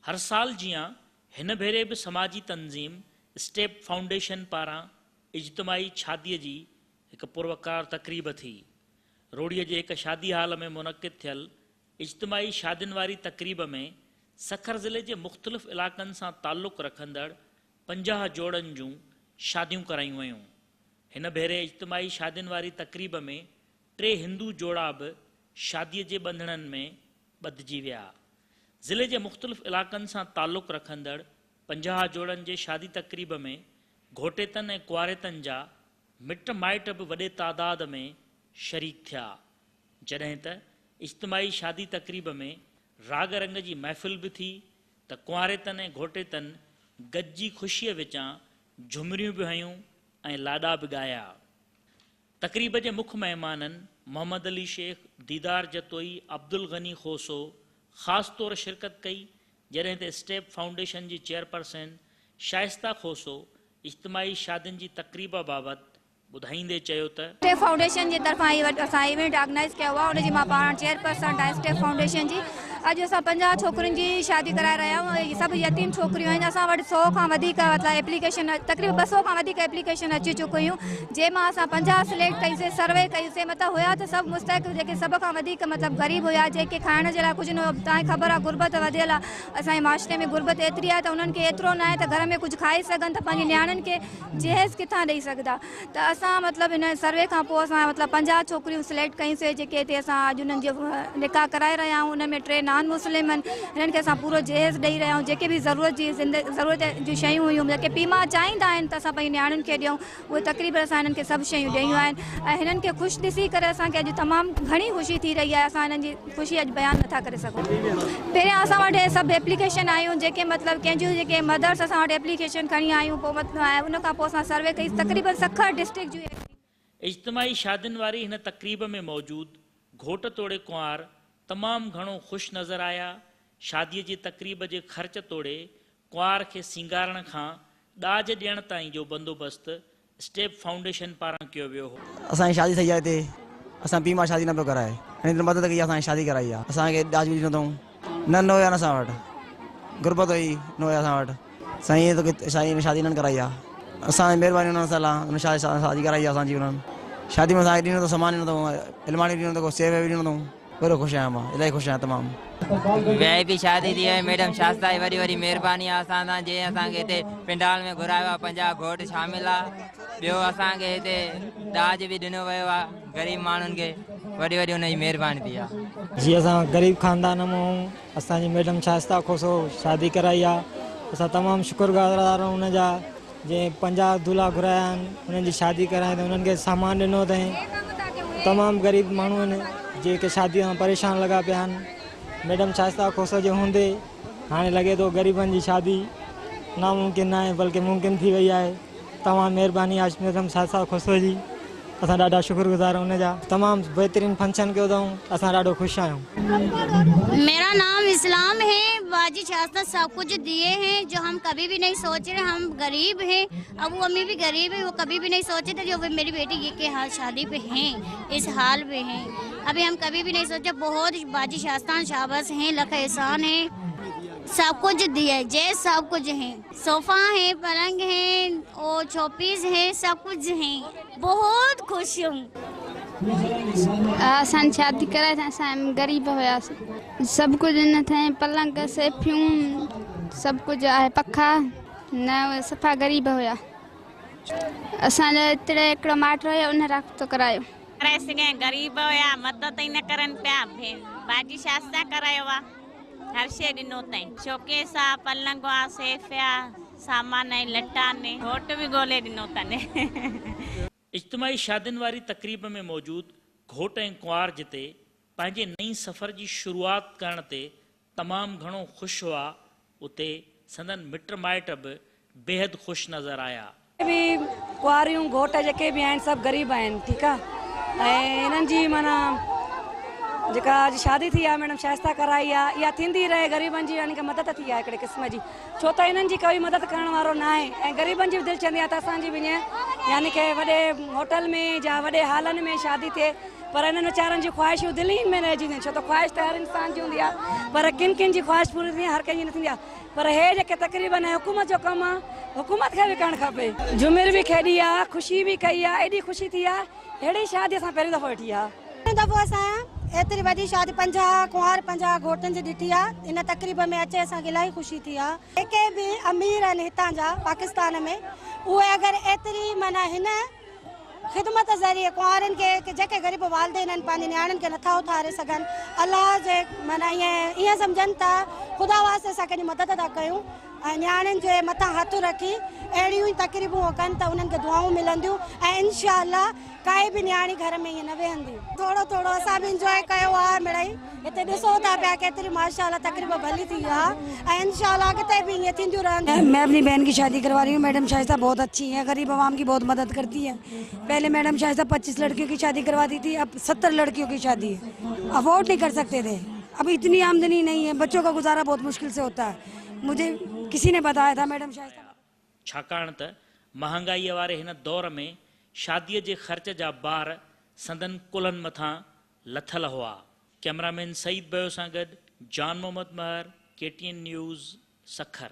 هر سال جيان هن ڀيري به سماجي تنظيم اسٽيپ فائونڊيشن پاران اجتماعي شادي جي هڪ پروقار تقريب ٿي. روهڙيء جي هڪ شادي هال ۾ منعقد ٿيل اجتماعي شادين واري تقريب ۾ سکر ضلعي جي مختلف علائقن سان تعلق رکندڙ پنجاهه جوڙن جون شاديون ڪرايون ويون. هن ڀيري اجتماعي شادين واري تقريب ۾ ٽي هندو جوڙا به شاديء جي ٻنڌڻن ۾ ٻڌجي ويا. ضلعي جي مختلف علائقن سان تعلق رکندڙ پنجاهه جوڙن جي شادي تقريب ۾ گهوٽيتن ۽ ڪنواريتن جا مٽ مائٽ به وڏي تعداد ۾ شريڪ ٿيا، جڏهن ته اجتماعي شادي تقريب ۾ راڳ رنگ جي محفل به ٿي ته ڪنواريتن ۽ گهوٽيتن گڏجي خوشيء وچان جهمريون به هنيون ۽ لاڏا به ڳايا. تقريب جي مک مهمانن محمد علي شيخ، ديدار جتوئي، عبدالغني کوسو خاص طور شرڪت ڪئي جڏهن ته اسٽيپ فائونڊيشن جي چيئرپرسن شائسته کوسو اجتماعي شادين جي تقريب بابت ٻڌائيندي چيو ته. اسٽيپ فائونڊيشن جي طرفان هي اسان ايونٽ آرگنائيز ڪيو آهي ان جي مان پاڻ چيئرپرسن آهيان اسٽيپ فائونڊيشن جي اڄ اسان پنجاهه ڇوڪرين جي شادي ڪرائي رهيا آهيون اهي سڀ يتيم ڇوڪريون آهن اسان وٽ سئو کان وڌيڪ ايپليڪيشن تقريبن ٻه سئو کان وڌيڪ ايپليڪيشن اچي چڪيون جنهن مان اسان پنجاهه سليڪٽ ڪيوسين سروي ڪيوسين متان هيا ته سڀ مستحق جيڪي سڀ کان وڌيڪ مطلب غريب هيا جنهن کي کائڻ جي لاء ڪجهه نه هيو تانهي خبر آهي غربت وڌيل آهي اسان جي معاشري ۾ غربت ايتري آهي ته انهن کي ايترو ناهي ته گهر ۾ ڪجهه کائي سگهن ته پنهنجي نياڻين کي جهيز ڪٿان ڏئي سگهندا ته اسان مطلب هن سروي کان پوء اسان مطلب پنجاهه ڇوڪريون سليڪٽ ڪيون سي جيڪي هتي اسان اڄ انهن جو نڪاح ڪرائي رهيا آهيون انهن ۾ ٽي نان مسلم آهن هنن کي اسان پورو جهيز ڏئي رهيا آهيون جيڪي به ضرورت جي ضرورت جون شيون هيون جيڪي پيء ماء چاهيندا آهن ته اسان پنهنجي نياڻين کي ڏيون اهي تقريب اسان هنن کي سڀ شيون ڏيون آهن ۽ هنن کي خوش ڏسي ڪري اسان کي اڄ تمام گهڻي خوشي ٿي رهي آهي اسان هنن جي خوشي اڄ بيان نٿا ڪري سگهون پهريان اسان وٽ اهي سڀ ايپليڪيشن آيون جيڪي مطلب ڪنهن جون جيڪي مدرس اسان وٽ ايپليڪيشن کڻي آيون پوء مطلب ان کان پوء اسان سروي ڪئي تقريبن سکر ڊسٽرڪٽ جون اجتماعي شادين واري هن تقريب ۾ موجود گهوٽ توڙي ڪنوار تمام گهڻو خوش نظر آيا شادي جي تقريب جي خرچ توڙي ڪنوار کي سينگارڻ کان ڏاج ڏيڻ تائين جو بندوبست اسٽيپ فائونڊيشن پاران ڪيو ويو هو. اسان جي شادي ٿئي آ هتي اسان پي مان شادي نه پيو ڪرائي هن اتري مدد ڪئي آ اسان کي شادي ڪرائي آ اسان کي ڏاج ڏيندو اٿئون نه نه هيا نه اسان وٽ غربت هئي نه هيا اسان وٽ سائين تو کي سائين شادي انهن ڪرائي آ اسان مهرباني انهن سال آ انهن شادي شادي ڪرائي آ اسان جي انهن شادي ۾ اسان کي ڏينو اٿئون سامان ڏينو اٿئون علماڻي ڏينو اٿئون سيوي ڏينو اٿئون. ورو خوش آهيان مان الائي خوش آهيان تمام. وي آء پي شادي ٿي وئي ميڊم شاستائي وڏي وڏي مھرباني آ اسان سان جنھن اسان کي ھتي پنڊال ۾ گھرايو آ پنجاھ گھوٽ شامل آ ٻيو اسان کي ھتي ڏاج به ڏنو ويو آ غريب ماڻھن کي وڏي وڏي ان جي مھرباني ٿي آ. جي اسان غريب خاندان مان آهيون. اسان جي ميڊم شائسته کوسو شادي ڪرائي آ اسان تمام شڪر گذار آهيون ان جا جي پنجاهه دلها گهرايا آهن انهن جي شادي ڪرائي ته انهن کي سامان ڏنو اٿائين تمام غريب ماڻهو آهن جيڪي شادي سان پريشان لڳا پيا آهن ميڊم شائسته کوسو جي هوندي هاڻي لڳي ٿو غريبن جي شادي ناممڪن ناهي بلڪه ممڪن ٿي وئي آهي توهان مھرباني عاشق نظم شاھ صاحب خسرو جي اسان ڏاڍا شڪر گذار ان جا تمام بھترين فنڪشن ڪيو اٿئون اسان ڏاڍو خوش آھيون. ميرا نام اسلام هي باجي شاستر سب کچ ديي هي جو هم کبي بي نهي سوچ رهي هم غريب هي ابو امي بي غريب هي وو کبي بي نهي سوچ تي جو وي ميري بيٽي يي کي حال شادي پي هي اس حال بي هي ابي هم کبي بي نهي سوچ بهوت باجي شاستان شابس هي لک احسان هي سب کچ ديي جي سب کچ هي. صوفا هين پلنگ هين او ڇوپيز هين سڀ ڪجهه هين بهوت خوش هيم. اسان شادي ڪرائي ته اسان غريب هياس سڀ ڪجهه هين ٿين پلنگ سيفيون سڀ ڪجهه آهي پکا نه صفا غريب هيا اسان جو اتڙي هڪڙو ماٽ هيا ان رابطو ڪرايو. ڪرائي سگهين غريب هيا مدد ئي نه ڪرن پيا ڀين باجي شاستان ڪرايو آ. هر شيء ڏنو تئين. شوڪيس آ، پلنگ آ، سيف آ، سامان ۽ لٽ آن. گهوٽ به ڳولي ڏنو تن. اجتماعي شادين واري تقريب ۾ موجود گهوٽ ۽ ڪنوار جتي پنهنجي نئين سفر جي شروعات ڪرڻ تي تمام گهڻو خوش هئا اتي سندن مٽ مائٽ به بيحد خوش نظر آيا. جتي به ڪنواريون گهوٽ جيڪي به آهن سڀ غريب آهن ٺيڪ آ ۽ انهن جي معنيٰ جيڪا اڄ شادي ٿي آ ميڊم شائسته ڪرائي آ اها ٿيندي رهي غريبن جي يعنيڪ مدد ٿي آ هڪڙي قسم جي ڇو ته انهن جي ڪوئي مدد ڪرڻ وارو نه آهي ۽ غريبن جي به دل چوندي آ ته اسان جي به ائين يعنيڪ وڏي هوٽل ۾ جا وڏي هالن ۾ شادي ٿئي پر انهن ويچارن جون خواهشون دل ئي ۾ رهجي وينديون آهن، ڇو ته خواهش ته هر انسان جي هوندي آهي، پر ڪن ڪن جي خواهش پوري ٿيندي آهي، هر ڪنهن جي نه ٿيندي آهي، پر هي جيڪي تقريب آهن، اهي حڪومت جو ڪم آهي، حڪومت کي به ڪرڻ کپي. جهومر به کيڏي آ، خوشي به ڪئي آ، ايڏي خوشي ٿي آ، ههڙي شادي اسان پهريون دفعو ڏٺي آ. پهريون دفعو اسان ايتري وڏي شادي پنجاهه ڪنوار پنجاهه گهوٽن جي ڏٺي آ، ان تقريب ۾ اچي اسان کي الاهي خوشي ٿي آ. جيڪي به امير آهن هتان جا پاڪستان ۾ اهي اگر ايتري معنيٰ هن. خدمت ذريعي ڪنوارن کي ڪي جيڪي غريب والدين آهن پنهنجي نياڻين کي نٿا اٿاري سگهن الله جي معنيٰ ائين ائين سمجهن ته خدا واسطي اسان ڪنهن جي مدد ٿا ڪيون ۽ نياڻين جي مٿان هٿ رکي اهڙيون ئي تقريبون هو ڪن ته انهن کي دعائون ملنديون ۽ انشاء الله ڪائي به نياڻي گهر ۾ ائين نه ويهندي. ٿورو ٿورو اسان به انجوائي ڪيو آهي مڙئي. هتي ڏسو ٿا پيا ڪيتري ماشاء الله تقريب ڀلي ٿي آ ۽ انشاء الله اڳتي به ائين ٿينديون رهن ٿيون. مين اپني بهن ڪي شادي ڪروا رهي هون ميڊم شائسته بهت اڇي هي غريب عوام ڪي بهت مدد ڪرتي هي پهلي ميڊم شائسته پچيس لڙڪيون ڪي شادي ڪرواتی ٿي اب ستر لڙڪيون ڪي شادي افورڊ نهي ڪر سڪتي ٿي اب اتني آمدني نهي هي بچو ڪا گذارا بهت مشڪل سي هوتا هي مجهي ڪسي نهي بتايا ٿا ميڊم شائسته بهت ڇاڪاڻ ته مهانگائيء واري هن دور ۾ شاديء جي خرچ جا بار سندن ڪلهن مٿان لٿل هئا. ڪئميرا مين سعيد بيو سان گڏ Jan Muhammad Mahar, K T N news, Sukkur.